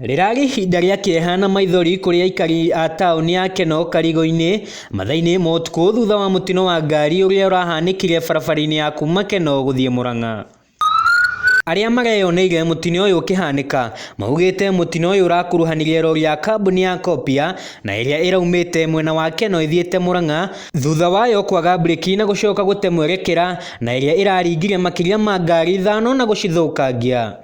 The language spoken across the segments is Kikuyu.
Rĩrarĩ ihinda rĩa kĩeha na maithori kũrĩ aikari a taũni ya Kenol Karigũ-inĩ mathaa-inĩ ma ũtukũ thutha wa mũtino wa ngari ũrĩa ũrahanĩkire barabara-inĩ ya kuma Kenol gũthiĩ Murang'a. Arĩa mareyoneire mũtino ũyũ ũkĩhanĩka maugĩte mũtino ũyũ ũrakuruhanirie rori ya kambuni ya Copia na ĩrĩa ĩraumĩte mwena wa Kenol ĩthiĩte Murang'a thutha wayo kwaga mburĩki na gũcoka gũte mwerekera na ĩrĩa ĩraringire makĩria ma ngari ithano na gũcithũkangia.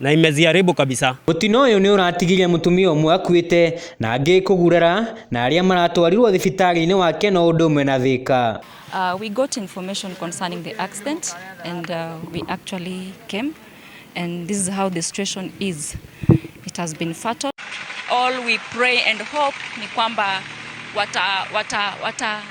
Na imeziharibu kabisa. Mũtino ũyũ nĩ ũratigire mũtumia ũmwe akuĩte na angĩ kũgurara na arĩa maratwarirwo thibitarĩ-inĩ wa Keno ũndũ ũmwe na Thĩka. Uh, we got information concerning the accident and uh, we actually came and this is how the situation is. It has been fatal. All we pray and hope ni kwamba wata, wata, wata,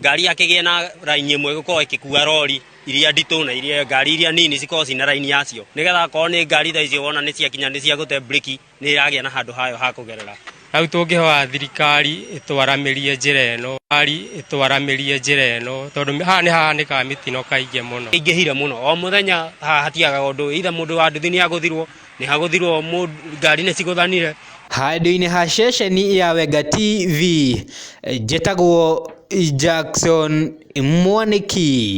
ngari ya kĩgĩe na raini ĩmwe ĩgũkorwo ĩkĩkua rori iria nditũ na iria ngari iria nini cikorwo cina raini yacio nĩgetha akorwo nĩ ngari tha icio wona nĩ ciakinya nĩ cia gũte breki nĩ ĩragĩa na handũ hayo ha kũgerera hau tũngĩhoya thirikari ĩtwaramĩrie njĩra ĩno thirikari ĩtwaramĩrie njĩra ĩno tondũ haha nĩ hahanĩkaga mĩtino kaingĩ mũno ingĩhire mũno o mũthenya haha hatiagaga ũndũ ithe mũndũ wa nduthi nĩ agũthirwo nĩ hagũthirwo mũndũ ngari nĩ cigũthanire. Handũ-inĩ ha ceceni ya Wenga TV, njĩtagwo Jackson Mwanĩki.